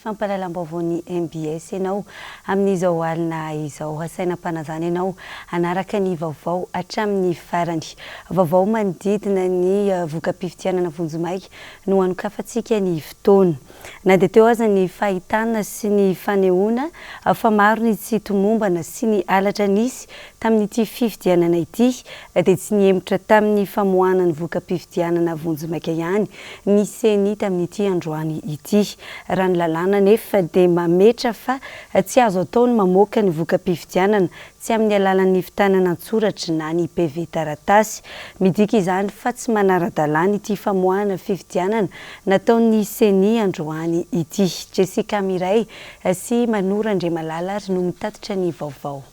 fampahalalam-baovaon'ny mbs ianao amin'izao alina izao. Asaina ampanazana ianao hanaraka ny vaovao hatramin'ny farany. Vaovao manodidina ny voka-pifidianana vonjimaika no hanokafantsika ny fotoana. Na dia teo aza ny fahitana sy ny fanehoana fa maro ny tsy tomombana sy ny halatra nisy tamin'ity fifidianana ity dia tsy nihemotra tamin'ny famoahana ny voka-pifidianana vonjimaika ihany ny ceni tamin'ity androany ity. Raha ny lalàna anefa dia mametra fa tsy azo atao ny mamoaka ny voka-pifidianana tsy amin'ny alalan'ny hivitanana an-tsoratry na ny PV taratasy. Midika izany fa tsy manara-dalàna ity famoahana fifidianana nataon'ny Ceni androany ity. Jessica Mireille sy Manou Randriamalala ary no mitatitra ny vaovao.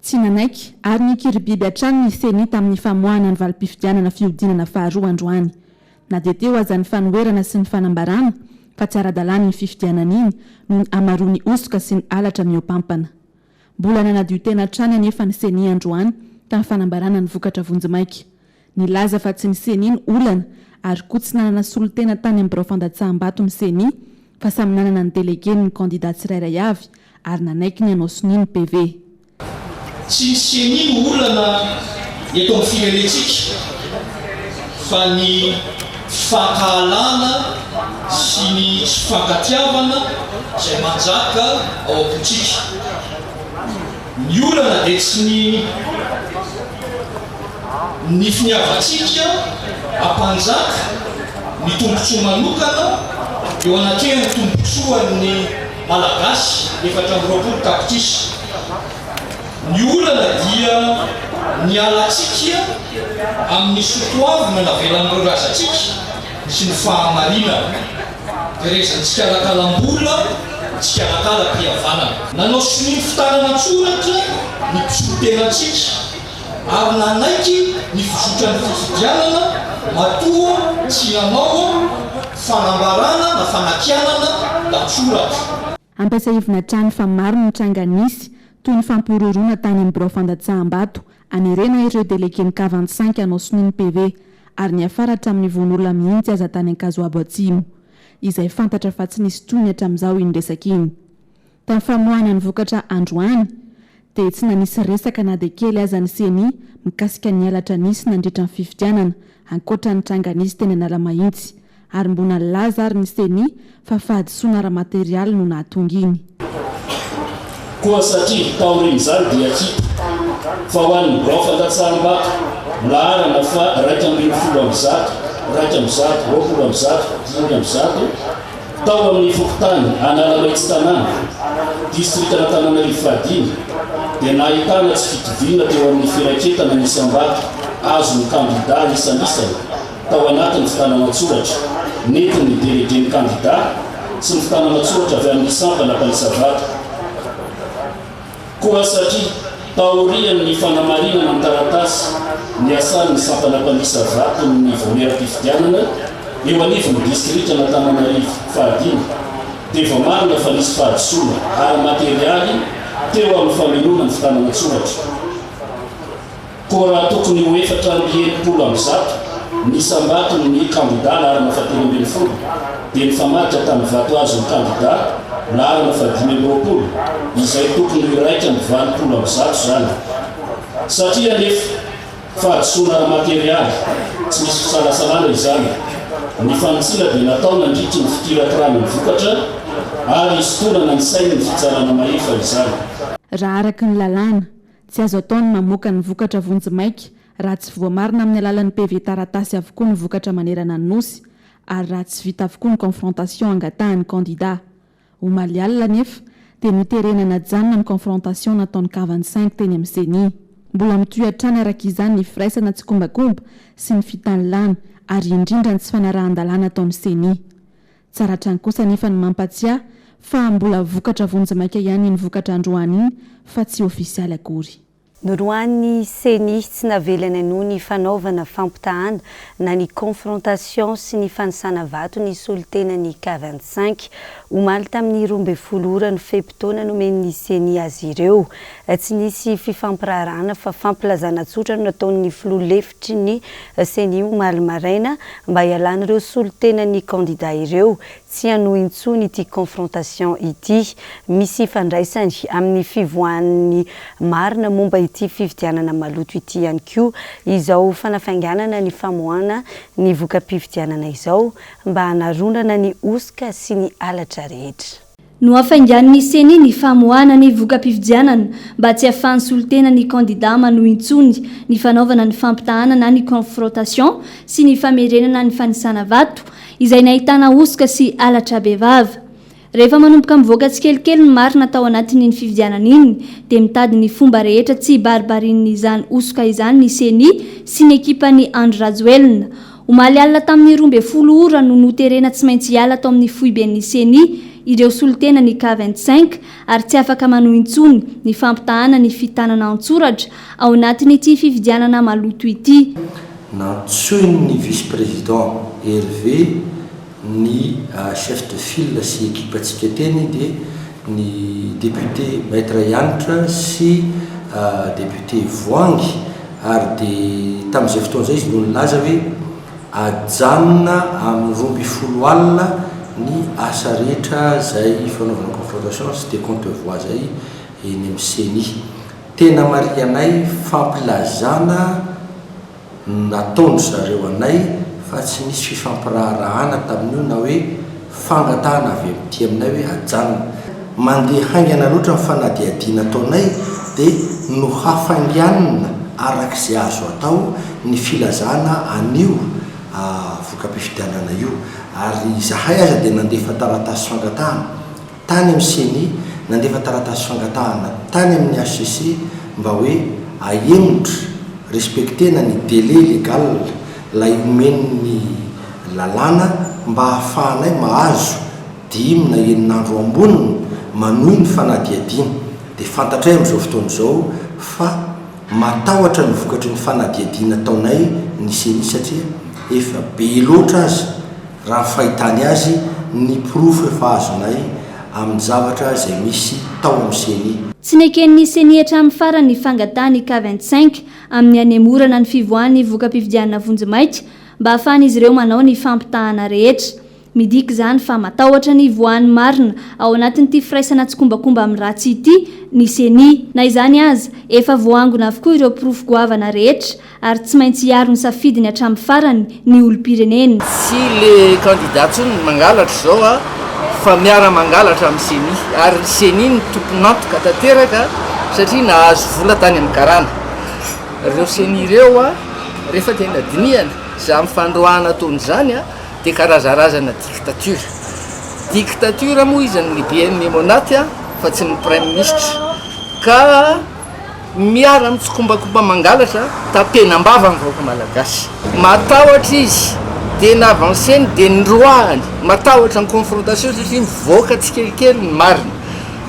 Tsy nanaiky ary nikiribiby hatrany ny Ceni tamin'ny famoahana ny valim-pifidianana fihodinana faharoa androany. Na dia teo aza ny fanoherana sy ny fanambarana fa tsy ara-dalàna iny fifidianana iny noho ny hamaroan'ny hosoka sy ny halatra mihoapampana. Mbola nanadio tena hatrany anefa ny Ceni androany tamin'ny fanambarana ny vokatra vonjimaika. Nilaza fa tsy ny Ceni no olana ary koa tsy nanana solontena tany amin'ny birao fandatsaham-bato ny Ceni fa samy nanana ny delegeny ny kandida tsirairay avy ary nanaiky ny hanao sonia ny PV. Tsy ny Ceni no olana eto amin'ny firenentsika fa ny Tsy fankahalana sy ny tsy fankatiavana izay manjaka ao am-pontsika. Ny olana dia tsy ny ny finiavantsika hampanjaka ny tombontsoa manokana eo anatrehan'ny tombontsoan'ny Malagasy efatra amby roapolo tapitrisa. Ny olana dia ny alantsika amin'ny soatoavina navelan'ireo razantsika sy ny fahamarinana. Terezintsika alakalam-bola, tsikalakalam-pihavanana. Nanao sonia ny fitanana an-tsoratra ny mpisolotenantsika ary nanaiky ny fizotran'ny fifidianana matoa tsy nanao fanambarana na fanakianana an-tsoratra. Ampiasaivina hatrany fa maro ny tranga nisy, toy ny fampihorohoroana tany amin'ny birao fandatsaham-bato, hanerena ireo delege mikava an-tsainky hanao sonia ny PV, ary niafara hatramin'ny voan'olona mihitsy aza tany Ankazoabo Atsimo, izay fantatra fa tsy nisy tohiny hatramin'izao iny resaka iny. Tamin'ny famoahana ny vokatra androany, dia tsy nanisy resaka na dia kely aza ny Ceni mikasika ny halatra nisy nandritra ny fifidianana, ankoatra ny tranga nisy teny Analamahitsy. Ary mbona nilaza ary ny Ceni fa fahadisoana ara-materialy no nahatonga iny. Koa satria taorian'izany dia hita fa ho an'ny birao fandatsahambato laharana faha iraika ambin'ny folo amby zato, iraika amby zato, roapolo amby zato, dimy amby zato, Tao amin'ny fokontany Analamaitsy Tanàna, distrikan'Antananarivo fahadimy, dia nahitana tsy fitoviana teo amin'ny firaketana ny isam-bato azon'ny kandidà isan'isany tao anatin'ny fitanana-tsoratra nentin'ny delegen'ny kandidà sy ny fitanana-tsoratra avy amin'ny sampana mpanisa-bato. Koa satria taorian' ny fanamarinana an-taratasy ny asan' ny sampana mpandisa vaton' ny vaomieram-pifidianana eo anivon' ny distrikan' Antananarivo fahadimy dia voamarina fa nisy fahadisoana ara-materialy teo amin' ny famelona ny fitanana an-tsoratra Koa raha tokony ho efatra amby enimpolo amby zato ny isam-baton' ny kandidà laharana fahatelo ambin'ny folo, dia nifamadika tamin'ny vato azon' ny kandidà laharana fahadimy amby roapolo, izay tokony ho iraika amby valopolo amby zato izany. Satria anefa fahadisoana ara-materialy, tsy misy fisalasalana izany, ny fanitsiana dia natao nandritry ny fikirakirana ny vokatra ary hisintonana ny sain' ny Fitsarana Mahefa izany. Raha araka ny lalàna, Tsy azo atao ny mamoaka ny vokatra vonjimaika raha tsy voamarina amin'ny alalan'ny PV taratasy avokoa ny vokatra manerana ny Nosy ary raha tsy vita avokoa ny confrontation angatahan'ny kandida. Omaly alina anefa dia noterena najanona ny confrontation nataon'ny kavan'ny Cinq teny amin'ny Ceni. Mbola mitohy hatrany araka izany ny firaisana tsikombakomba sy ny fitanilana ary indrindra ny tsy fanarahan-dalàna ataon'ny Ceni. Tsara hatrany kosa anefa ny mampatsiahy fa mbola vokatra vonjimaika ihany iny vokatra androany iny fa tsy ofisialy akory. Noroahin'ny Ceni tsy navelany hanohy ny fanaovana fampitahana na ny confrontation sy ny fanisana vato ny solontenan'ny cas vingt cinq, omaly tamin'ny roa ambin'ny folo ora ny fe-potoana nomen'ny Ceni azy ireo. Tsy nisy fifampiraharahana fa fampilazana tsotra no nataon'ny filoha lefitra. ny Ceni omaly maraina mba hialan'ireo solontenan'ny kandida ireo tsy hanohy intsony ity confrontation ity. Misy ifandraisany amin'ny fivoahan'ny marina momba ity fifidianana maloto ity ihany koa izao fanafainganana ny famoahana ny voka-pifidianana izao mba hanaronana ny hosoka sy ny halatra rehetra. Nohafaingan'ny Ceni ny famoahana ny voka-pifidianana mba tsy ahafahan'ny solontena ny kandidà manohy intsony ny fanaovana ny fampitahàna na ny confrontation sy ny famerenana ny fanisàna vato izay nahitàna hosoka sy halatra bevava. Rehefa manomboka mivoaka tsikelikely ny marina tao anatin'iny fifidianana iny dia mitady ny fomba rehetra tsy hibaribarian'izany hosoka izany ny Ceni sy ny ekipan'i Andry Rajoelina Omaly alina tamin'ny roa ambin'ny folo ora no noterena tsy maintsy hiala tao amin'ny foiben'ny Ceni ireo solontenan'ny Cas vingt cinq ary tsy afaka manohy intsony ny fampitahana ny fitanana an-tsoratra ao anatin'ity fifidianana maloto ity. Nantsoin'ny Vice-Président Hervé ny chef de file sy ekipantsika teny dia ny député Maître Hanitra sy député Voahangy ary dia tamin'izay fotoana izay izy no nilaza hoe ajanona amin'ny roa ambin'ny folo alina ny asa rehetra izay fanaovana confrontation sy décompte de voix izay eny amin'ny ceni. Tena marihanay fampilazana. no nataon-dry zareo anay fa tsy nisy fifampiraharahana tamin'io na hoe fangatahana avy amin'ity aminay hoe ajanona. Mandeha haingana loatra ny fanadihadiana ataonay dia nohafainganina araka izay azo atao ny filazana an'io voka-pifidianana io ary izahay aza dia nandefa taratasy fangatahana. tany amin'ny ceni nandefa taratasy fangatahana tany amin'ny hcc mba hoe ahemotra, respectena ny délai légal lay omen'ny lalàna mba hahafahanay mahazo dimy na enina andro ambony manohy ny fanadihadiana dia fantatray amin'izao fotoana izao fa matahotra ny vokatry ny fanadihadiana ataonay ny ceni satria efa be loatra aza Raha ny fahitany azy, ny porofo efa azonay amin'ny zavatra izay misy tao amin'ny ceni. Tsy neken'ny ceni hatramin'ny farany ny fangatahan'ny cas vingt cinq amin'ny hanemorana ny fivoahan'ny voka-pifidianana vonjimaika mba hahafahan'izy ireo manao ny fampitahana rehetra. Midika izany fa matahotra ny hivoahan'ny marina ao anatin'ity firaisana tsikombakomba amin'ny ratsy ity ny ceni. Na izany aza, efa voaangona avokoa ireo porofo goavana rehetra ary tsy maintsy hiaro ny safidiny hatramin'ny farany ny olom-pirenena. Tsy le candidat tsony no mangalatra izao a, fa miara mangalatra amin'ny ceni, ary ny ceni no tompon'antoka tanteraka satria nahazo vola tany amin'ny karana ireo ceni ireo a, rehefa tena dinihana izany fandroahana ataony izany a, dia karazarazana dictature, dictature moa izy ny BM Memonate a, fa tsy ny praiministra ka. Miara mitsikombakomba mangalatra ta penambava ny vahoaka malagasy. Matahotra izy dia ny avanceny dia ny roahany. Matahotra ny confrontation satria mivoaka tsikelikely ny marina.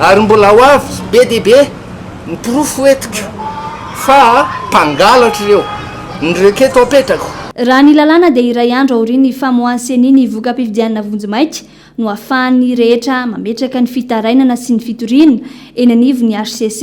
Ary mbola ho avy be dia be ny porofo eto ka fa mpangalatra ireo. Ny requête apetrako. Raha ny lalàna dia iray andro aorian'ny famoahan'ny ceni ny voka-pifidianana vonjimaika, no ahafahan'ny rehetra mametraka ny fitarainana sy ny fitoriana eny anivon'ny hcc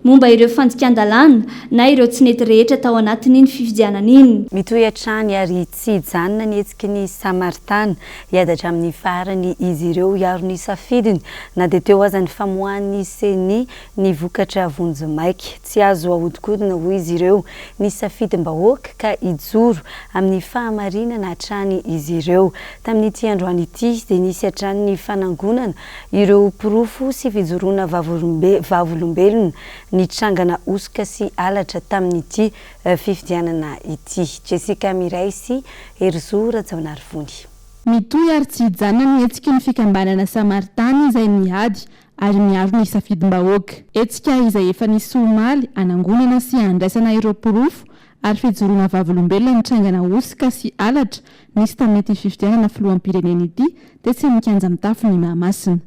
momba ireo fandikan-dalàna na ireo tsy nety rehetra tao anatin'iny fifidianana iny. Mitohy hatrany ary tsy hijanona ny hetsiky ny Samaritana. Hiady hatramin'ny farany izy ireo hiaro ny safidiny, na dia teo aza ny famoahan'ny Ceni ny vokatra vonjimaika. Tsy azo ahodikodina hoy izy ireo ny safidim-bahoaka ka hijoro amin'ny fahamarinana hatrany izy ireo. Tamin'ity androany ity dia nisy hatrany ny fanangonana ireo porofo sy fijoroana vavolombelona nitrangana hosoka sy halatra tamin'ity fifidianana ity. Jessica Mireille sy Herizo Rajaonarivony. Mitohy ary tsy hijanona ny hetsiky ny fikambanana Samaritany izay mihady ary miaro ny safidim-bahoaka. Hetsika izay efa nisy omaly hanangonana sy handraisana ireo porofo ary fijoroana vavolombelona nitrangana hosoka sy halatra nisy tamin'ity fifidianana filoham-pirenena ity tetsy amin'ny kianja mitafo ny Mahamasina.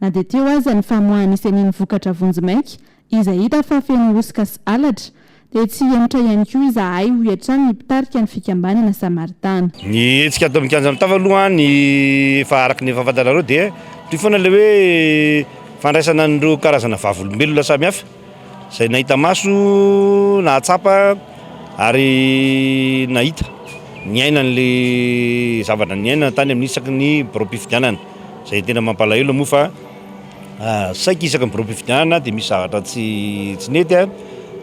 Na dia teo aza ny famoahan'ny ceni ny vokatra vonjimaika izay hita fa feno hosoka sy halatra, dia tsy hihemotra ihany koa izahay, hoy hatrany ny mpitarika ny fikambanana Samaritana. Ny hetsika ato amin'ny kianja Mitava aloha ny efa araka ny efa fantatrareo dia toy foana ilay hoe fandraisana an'ireo karazana vavolombelona samihafa izay nahita maso, nahatsapa ary nahita, niaina an'ilay zavatra niainana tany amin'ny isaky ny biraom-pifidianana izay tena mampalahelo moa fa Saiky isaka ny biraom-pifidianana dia misy zavatra tsy tsy nety,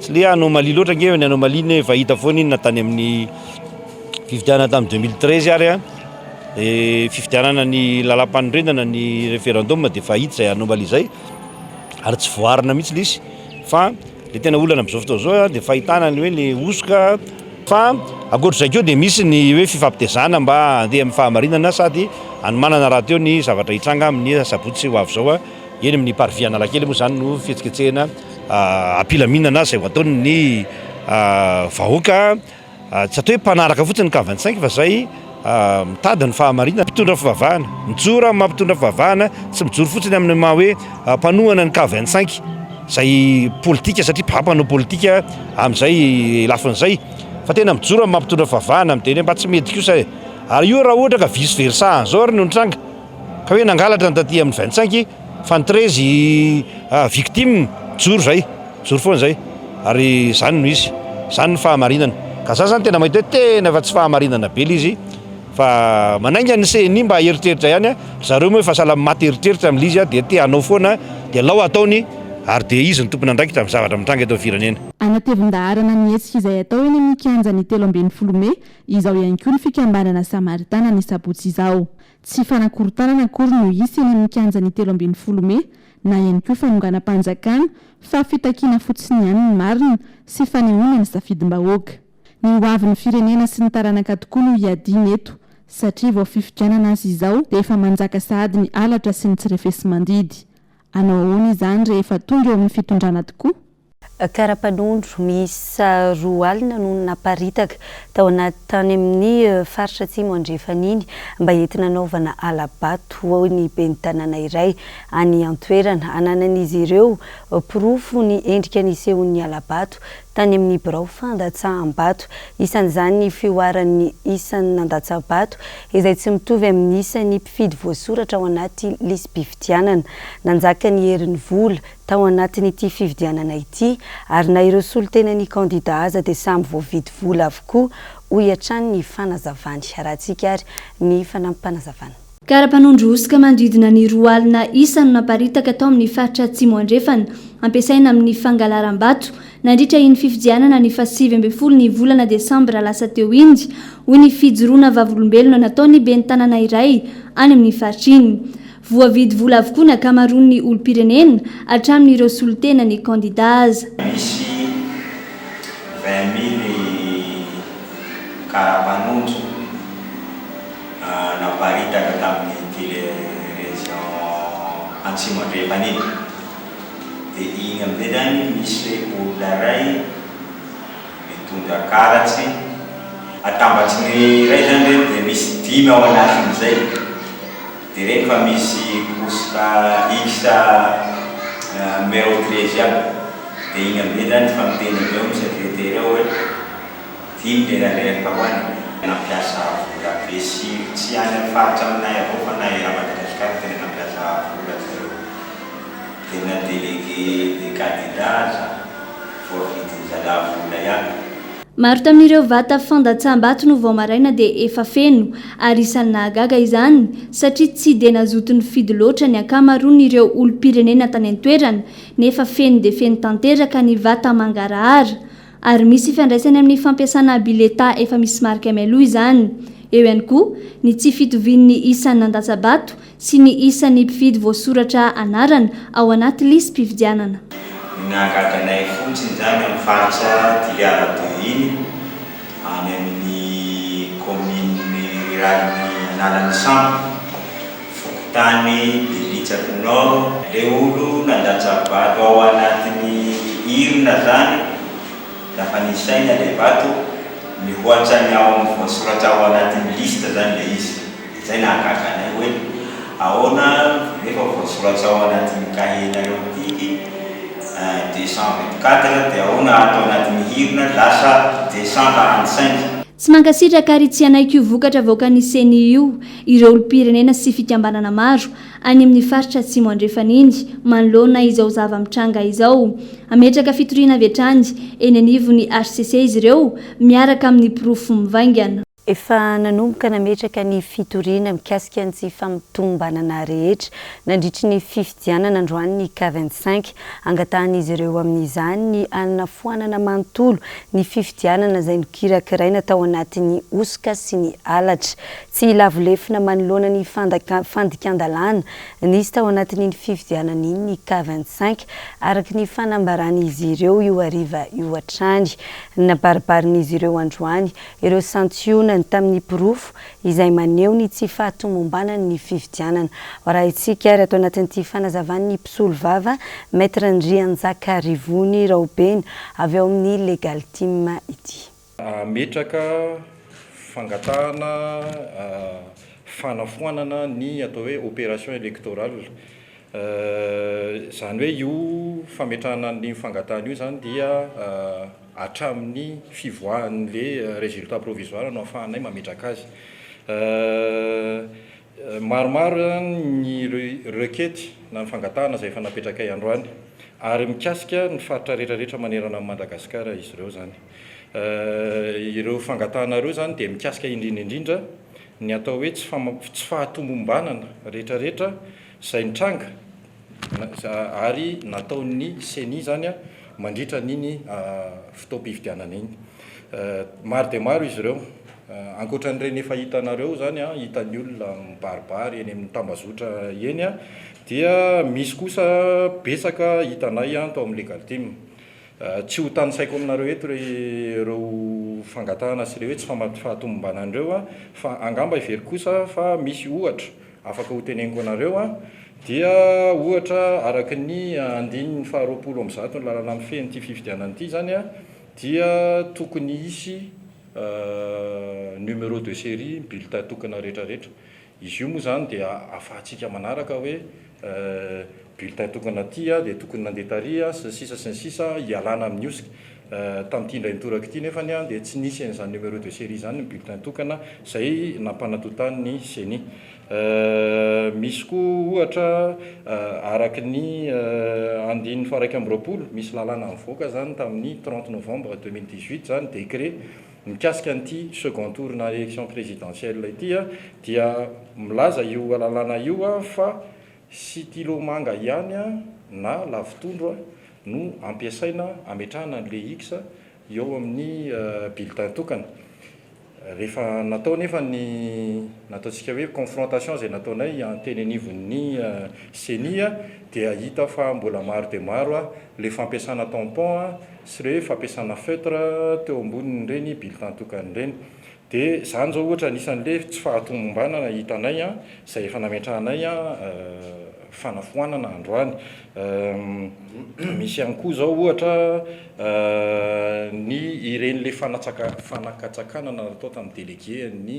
tsy le anomalie loatra ange ny anomalie ny hoe efa hita foana iny na tany amin'ny fifidianana tamin'ny deux mille treize ary dia fifidianana ny lalam-panorenana ny referendum dia efa hita izay anomalie izay ary tsy voaarina mihitsy le izy fa Ilay tena olana amin'izao fotoana izao dia fahitana ny hoe ny hosoka. Fa ankoatr'izay koa dia misy ny hoe fifampitezana mba handeha amin'ny fahamarinana sady hanomanana rahateo ny zavatra hitranga amin'ny asabotsy ho avy izao eny amin'ny parvis Analakely moa izany no fihetsiketsehina ampilaminana izay ho ataon'ny vahoaka Tsy atao hoe mpanaraka fotsiny ny kavan-tsaingy fa izay mitady ny fahamarinana, mpitondra fivavahana. Mijoro amin'ny maha-mpitondra fivavahana, tsy mijoro fotsiny amin'ny maha hoe mpanohana ny kavan-tsaingy, izay politika satria bha mpanao politika amin'izay lafiny izay, fa tena mijoro amin'ny maha-mpitondra fivavahana amin'ny teny hoe mba tsy mety kosa e! Ary io raha ohatra ka vice versa an'izao ary no nitranga, ka hoe nangalatra ny taty amin'ny kavan-tsaingy, Fa ny treize i victime mijoro zay, mijoro foana zay ary zany no izy, zany ny fahamarinana. Ka za zany tena mahita hoe tena efa tsy fahamarinana be le izy fa manainga ny ceni mba heritreritra ihany a, ry zareo moa efa sahala maty eritreritra am le izy dia te hanao foana dia alao ataony ary dia izy no tompon'andraikitra am zavatra mitranga eto am firenena. Anatevin-daharana ny hetsika izay atao eny amin'ny kianja ny telo ambin'ny folo mey izao ihany koa ny fikambanana Samaritana ny sabotsy izao. Tsy fanakorontanana akory no hisy eny amin'ny kianjan'ny telo ambin'ny folo mey na ihany koa fanonganam-panjakana fa fitakiana fotsiny ihany ny marina sy fanehoana ny safidim-bahoaka. Ny hoavin'ny firenena sy ny taranaka tokoa no hiadiana eto satria vao fifidianana aza izao dia efa manjaka sahady ny halatra sy ny tsy refesi-mandidy. Hanao ahoana izany rehefa tonga eo amin'ny fitondrana tokoa? Karapanondro miisa roa alina no naparitaka tao anaty tany amin'ny faritra Atsimo Andrefana iny mba entina anaovana hala-bato, hoy ny ben'ny tanàna iray any an-toerana. Ananan'izy ireo porofo ny endrika nisehoan'ny hala-bato tany amin'ny birao fandatsaham-bato, isan'izany ny fihoaran'ny isan'ny nandatsa-bato izay tsy mitovy amin'ny isan'ny mpifidy voasoratra ao anaty lisi-pifidianana. Nanjaka ny herin'ny vola tao anatin'ity fifidianana ity ary na ireo solontenan'ny kandida aza dia samy voavidy vola avokoa, hoy hatrany ny fanazavany. Arahantsika ary ny fanampim-panazavana. Kara-panondro hosoka manodidina ny roa alina isa no naparitaka tao amin'ny faritra Atsimo Andrefana, ampiasaina amin'ny fangalaram-bato, nandritra iny fifidianana ny fahasivy ambin'ny folo ny volana desambra lasa teo iny, hoy ny fijoroana vavolombelona nataon'ny ben'ny tanàna iray any amin'ny faritra iny. Voavidy vola avokoa ny ankamaroan'ny olom-pirenena, hatramin'ireo solontenan'ny kandida aza. Misy vingt mille karapanondro naparitaka tamin'ny tele région Antsimo Andrefana iny. Dia iny amin'izay izany misy olona iray mitondra karatsy, atambatry ny iray izany ireny dia misy dimy ao anatin'izay. Dia reny fa misy couche extra numero treize aby dia iny amzay zany efa miteny avy eo ny secretaire ao hoe dimy le ralent ka hoany e. Nampiasa vola be sy tsy any am faritra aminay avao fa na era Madagascar tena nampiasa vola ry zareo dia na délégué de cadenas voavidin'ny zalahy vola ihany. Maro tamin'ireo vata fandatsaham-bato no vao maraina dia efa feno, ary isan'ny nahagaga izany satria tsy dia nazoto nifidy loatra ny ankamaroan'ireo olom-pirenena tany an-toerana, nefa feno dia feno tanteraka ny vata mangarahara. Ary misy ifandraisany amin'ny fampiasana bileta efa misy marika mialoha izany. Eo ihany koa ny tsy fitovian'ny isan'ny nandatsa-bato sy ny isan'ny mpifidy voasoratra anarana ao anaty lisi-pifidianana. Nahagaga anay fotsiny izany amin'ny faritra Toliara Deux iny, any amin'ny kaominina riralin'i Analan'isambo, fokontany Belitsaky Nord. Ilay olo nandatsa-bato ao anatin'ny urne izany, rehefa nisaina ilay vato, mihoatra ny ao amin'ny voasoratra ao anatin'ny liste izany ilay izy. Izay nahagaga anay hoe ahoana nefa voasoratra ao anatin'ny cahier-nareo mitiky deux cent vingt quatre dia ahoana ato anaty mihirina lasa deux cent quarante cinq. Tsy mankasitraka ary tsy hanaiky io vokatra avoakan'ny Ceni io ireo olom-pirenena sy fikambanana maro any amin'ny faritra Atsimo Andrefana iny manoloana izao zava-mitranga izao. Hametraka fitoriana avy hatrany eny anivon'ny hcc izy ireo miaraka amin'ny porofo mivaingana. Efa nanomboka nametraka ny fitoriana mikasika ny tsy fampitmbanana rehetra nandritry ny fifidianana androany ny cas vingt cinq. Angatahan'izy ireo amin'izany ny hanafoanana manontolo ny fifidianana izay nokirakiraina tao anatin'ny hosoka sy ny halatra. Tsy lavo lefona manoloana ny fandikan-dalàna nisy tao anatin'iny fifidianana iny ny cas vingt cinq, araka ny fanambaran'izy ireo io hariva io hatrany. Nabaribarin'izy ireo androany ireo santionany tamin'ny porofo izay maneho ny tsy fahatomombanan' ny fifidianana. Ho arahintsika ary ato anatin'ity fanazavan' ny mpisolovava Maître Ndrianjaka Rivony Raobena avy ao amin'ny Legal Team ity. Hametraka fangatahana fanafoanana ny atao hoe opération électorale Izany hoe io fametrahana an'io fangatahana io izany dia hatramin'ny fivoahan'ilay résultat provisoire no ahafahanay mametraka azy. Maromaro izany ny requête na ny fangatahana izay efa napetrakay androany ary mikasika ny faritra rehetrarehetra manerana an'i Madagasikara izy ireo izany. Ireo fangatahana ireo izany dia mikasika indrindra indrindra ny atao hoe tsy fahatombom-banana rehetrarehetra. izay nitranga ary nataon'ny Ceni izany mandritra an'iny fotoam-pifidianana iny. Maro dia maro izy ireo, ankoatran'ireny efa hitanareo izany, hitan'ny olona mibaribary eny amin'ny tambazotra eny, dia misy kosa betsaka hitanay tao amin'ny Legalteam. Tsy ho tanisaiko aminareo eto ireo fangatahana sy ireo hoe tsy fahatomombanana ireo fa angamba heveriko kosa fa misy ohatra, afaka ho teneniko anareo an, dia ohatra araka ny andininy faha roapolo amby zato ny lalana mifehy an'ity fifidianana ity izany an, dia tokony hisy numéro de série ny bulletin tokana rehetra rehetra, izy io moa izany dia ahafahantsika manaraka hoe bulletin tokana aty dia tokony nandeha tary sy ny sisa sy ny sisa hialana amin'ny osc tamin'ity indray mitoraka ity nefany dia tsy nisy an'izany numéro de série izany ny bulletin tokana izay nampanatotan'ny ceni misy koa ohatra araka ny andininy faharaika amby roapolo misy lalàna nivoaka izany tamin'ny trente novembre deux mille dix huit izany décret mikasika an'ity second tour na élection présidentielle ity dia milaza io lalàna io fa Sitilo manga ihany na lavitondro no ampiasaina ametrahana ny le X eo amin'ny bulletin tokana. Rehefa natao anefa ny nataontsika hoe confrontation izay nataonay teny anivon'ny Ceni dia hita fa mbola maro dia maro le fampiasana tampon sy le fampiasana feutre teo ambonin'ireny bulletin tokana ireny. Dia izany izao ohatra anisan'le tsy fahatomombanana hitanay an, izay efa nametrahanay an fanafoanana androany. Misy ihany koa izao ohatra ny iren'le fanatsaka fanakatsakanana natao tamin'ny délégué an'ny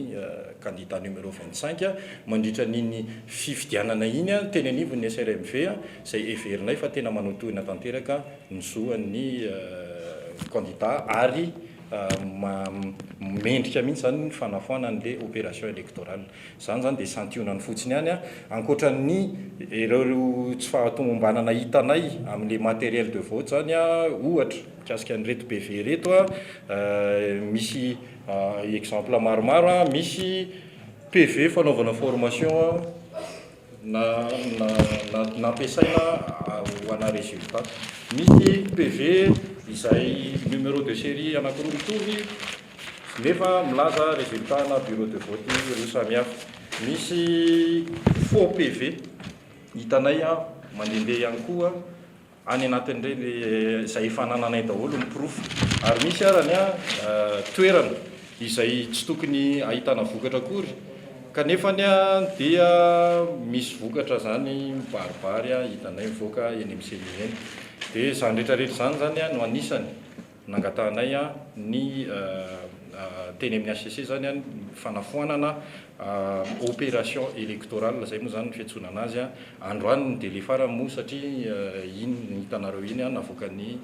candidat numéro vingt cinq mandritra an'iny fifidianana iny an, teny anivon'ny SRMV an, izay heverinay fa tena manotohina tanteraka ny zo an'ny candidat ary mendrika mihitsy izany ny fanafoana an'ilay opération électorale. Izany izany dia santionany fotsiny ihany, ankoatra ny ireo tsy fahatomombanana hitanay amin'ilay matériel de vote izany ohatra, mikasika an'ireto BV ireto misy exemple maromaro, misy PV fanaovana formation. na na na nampiasaina ho ana resultat. Misy PV izay numéro de série anakiroa mitovy nefa milaza resultat ana bureau de vote roa samy hafa. Misy faux PV hitanay mandehandeha ihany koa any anatin'ireny izay efa anananay daholo ny porofo ary misy arany a toerana izay tsy tokony ahitana vokatra akory kanefa ny a dia misy vokatra zany mibaribary a hitanay mivoaka eny amin'ny semi eny dia izany rehetrarehetra izany zany a no anisany Nangatahanay ny teny amin'ny HCC izany ny fanafoanana opération électorale izay moa izany ny fiantsoana an'azy. Androany ny délai farany moa satria iny hitanareo iny navoakan'ny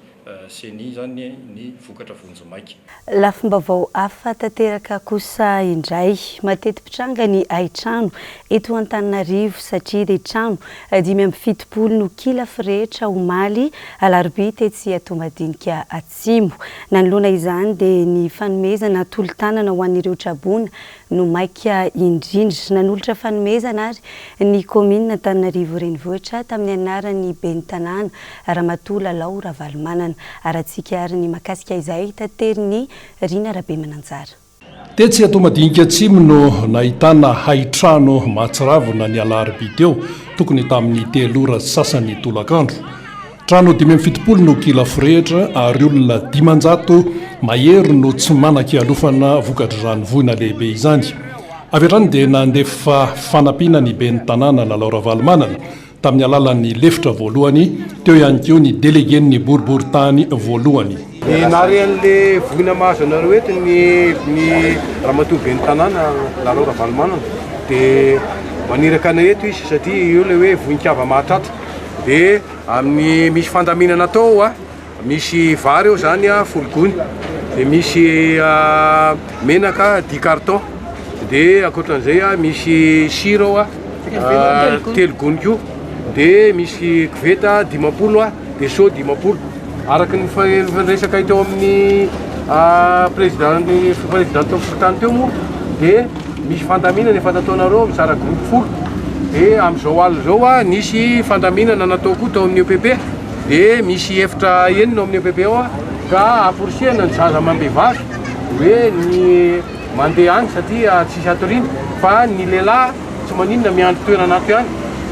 Ceni izany ny vokatra vonjimaika. Lafim-baovao hafa tanteraka kosa indray. Mateti-pitranga ny haitrano eto Antananarivo satria dia trano dimy amby fitopolo no kila firehitra omaly alarobia tetsy Toamadiniky Atsimo. Nanoloana izany dia ny fanomezana tolo-tanana ho an'ireo traboina no maika indrindra. Nanolotra fanomezana ary ny kaominina Antananarivo Renivohitra tamin'ny anaran'ny ben'ny tanàna Ramatoa Lalao Ravalomanana Haratsiaka ary ny mahakasika izay taterin'i Rina Rabemananjara. Tetsy Toamadinika Atsimo no nahitana hain-trano mahatsiravina ny alarobia teo, tokony tamin'ny telo ora sy sasany tolakandro. Trano dimy amby fitopolo no kila forehitra ary olona dimanjato mahery no tsy manan-kialofana vokatr'izany voina lehibe izany. Avy hatrany dia nandefa fanampiana ny ben'ny tanàna Lalao Ravalomanana, Tamin'ny alalan'ny lefitra voalohany, teo ihany koa ny delegen'ny boriborintany voalohany. Ny narian'le voina mahazo anareo eto ny ny ramatoa ben'ny tanàna Lalao Ravalomanana de maniraka anay eto izy satria io le hoe voin-kava mahatratra de amin'ny misy fandaminana atao a. Misy vary ao zany a folo gony de misy menaka dix carton de akoatran'izay a misy sira ao a telo gony ko de misy koveta dimampolo a de seau dimampolo araky ny fifandraisakay teo amin'ny président ny président teo fokontany teo moa de misy fandaminana efa nataonareo mizara groupe folo de am'izao alina zao a nisy fandaminana natao koa tao amin'ny EPP. dia misy efitra enina ao amin'ny EPP ao ka aporisihana ny zaza amam-behivavy hoe ny mandeha any satria tsisy hatoriana fa ny lehilahy tsy maninona miandry toerana ato ihany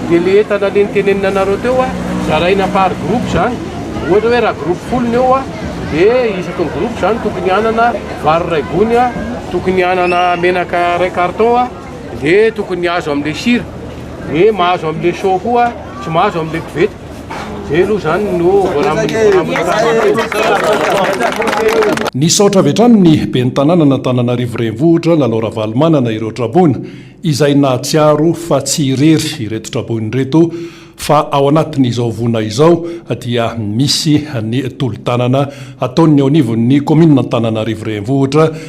dia le entana le nitenenina anareo teo a zaraina par groupe izany ohatra hoe raha groupe folo ny eo a dia isaky ny groupe izany tokony hanana vary iray gony a tokony hanana menaka iray carton a dia tokony azo amin'ilay sira dia mahazo amin'ilay show koa tsy mahazo amin'ilay koveta Nisaotra avy hatrany ny Ben'ny tanànan'Antananarivo Renivohitra, Lalao Ravalomanana ireo traboina izay nahatsiaro fa tsy irery ireto traboina ireto fa ao anatin'izao vona izao dia misy ny tolo-tanana ataon'ny eo anivon'ny Kaominina Antananarivo Renivohitra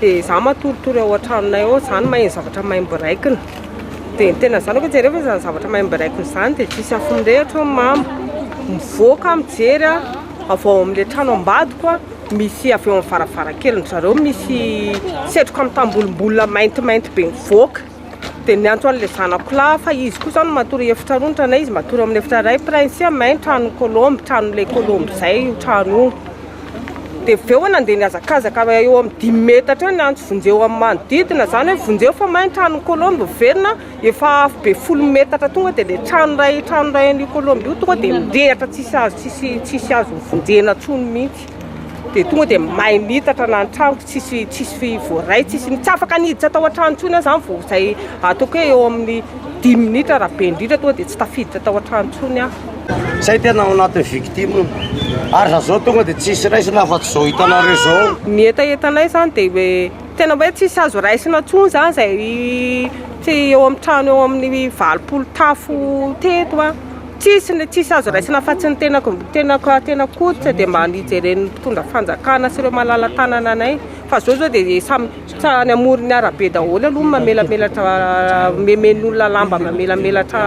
dia za matoritory ao an-tranonay ao zany maheno zavatra maimboraikina dia ny tena zanako jereo fa izany zavatra maimboraikina izany dia tsisy afo mirehatra ny mamo mivoaka mijery a avy ao amin'ilay trano ambadiko a misy avy ao amin'ny varavarankely ny zareo misy setroka mitambolombola maintimainty be mivoaka Dia niantso an'ilay zanako lahy fa izy koa izao no matory efitra roa ny tranay, izy matory amin'ny efitra iray prince mais ny tranon'ny kolombo, tranon'ilay kolombo izay io trano io. Dia avy eo nandeha nihazakazaka eo amin'ny dimy metatra eo niantso vonjeo amin'ny manodidina izany hoe vonjeo fa may ny tranon'ny kolombo miverina, efa afobe folo metatra tonga dia ilay trano iray trano iray an'io kolombo io tonga dia mirehitra tsisy azo tsisy tsisy azo vonjena intsony mihitsy. dia tonga dia may mitatra na ny tranoko tsisy tsisy voaray tsisy tsy afaka niditra tao an-trano intsony aho zany vao izay ataoko hoe eo amin'ny dimy minitra raha be indrindra tonga dia tsy tafiditra tao an-trano intsony aho zay tena ao anatin'ny victime ary raha zao tonga dia tsisy raisina afa-tsy izao hitanareo izao ny hetahetanay zany dia hoe tena hoe tsisy azo raisina intsony zany izay tsy eo amin'ny trano eo amin'ny valopolo tafo teto an Tsisy ny tsisy azo raisina afa-tsy ny tenako, tenako, tena koditra dia mba ny hijeren'ny mpitondra fanjakana sy ireo malala tanana anay fa izao izao dia samy tsa any amoron'ny arabe daholo aloha ny mamelamelatra omemen'ny olona lamba mamelamelatra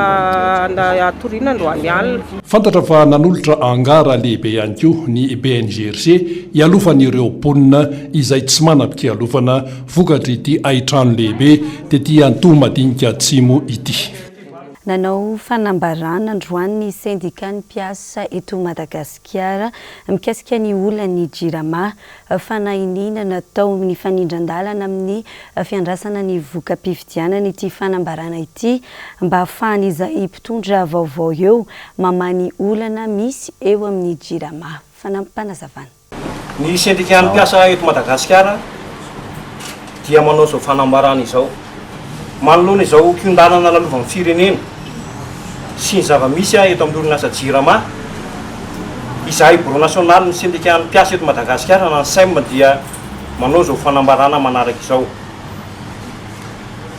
hatoriana androany alina. Fantatra fa nanolotra angara lehibe ihany koa ny BNGRC hialofan'ireo mponina izay tsy manam-pialofana vokatr'ity haitrano lehibe tety Antohomadinika Atsimo ity. Nanao fanambarana androany ny sendikan'ny mpiasa eto Madagasikara mikasika ny olan'ny Jirama, fanahiniana natao nifanindran-dalana amin'ny fiandrasana ny voka-pifidianana ity fanambarana ity mba hahafahan'izay mpitondra vaovao eo mamaha ny olana misy eo amin'ny Jirama. Fanampim-panazavana. Ny sendikan'ny mpiasa eto Madagasikara dia manao izao fanambarana izao, Manoloana izao kiondanana lalovan'ny firenena sy ny zava-misy eto amin'ny orinasa Jirama, izahay Birao nasionalin'ny sendikan'ny mpiasa eto Madagasikara na ny sem dia manao izao fanambarana manaraka izao,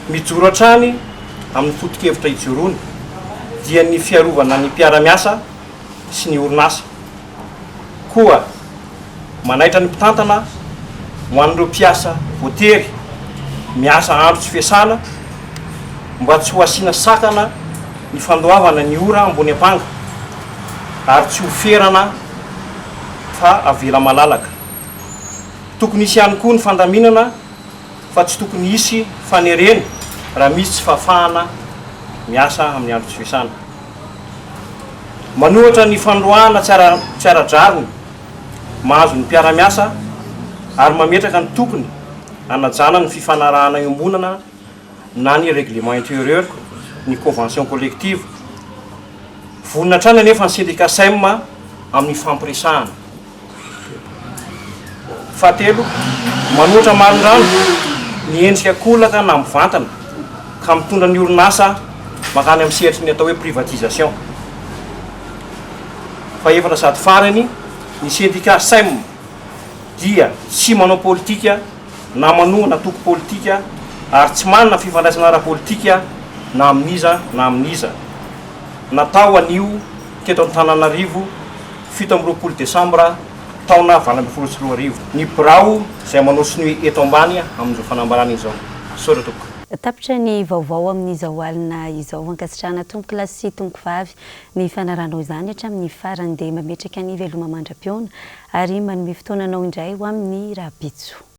Mijoro hatrany amin'ny foto-kevitra ijoroany dia ny fiarovana ny mpiara-miasa sy ny orinasa. koa manaitra ny mpitantana ho an'ireo mpiasa voatery miasa andro tsy fiasana mba tsy ho asiana sakana ny fandoavana ny ora ambony ampanga ary tsy ho ferana fa avela malalaka. Tokony hisy ihany koa ny fandaminana fa tsy tokony hisy fanerena raha misy tsy fahafahana miasa amin'ny andro tsy fiasana. Manohatra ny fandroahana tsy ara-drariny mahazo ny mpiara-miasa ary mametraka ny tokony hanajana ny fifanarahana iombonana na ny règlement intérieur ny convention collective. Vonona hatrany anefa ny sendika Sem amin'ny fampiresahana. Fahatelo, manoatra marindrano ny endrika kolaka na mivantana ka mitondra ny orinasa mankany amin'ny sehatry ny atao hoe privatisation. Fahefatra sady farany, ny sendika sem dia tsy manao politika na manohana antoko politika ary tsy manana fifandraisana ara-politika na amin'iza na amin'iza. Natao anio teto Antananarivo. fito amby roapolo desambra taona valo ambin'ny folo sy roa arivo, ny birao izay manao sonia eto ambany amin'izao fanambarana izao. Misaotra tompoko. Tapitra ny vaovao amin'izao alina izao. Ankasitrahana tompoko lahy sy tompoko vavy ny fanaranao izany hatramin'ny farany dia mametraka ny veloma mandra-pihaona ary manome fotoananao indray ho amin'ny rahampitso.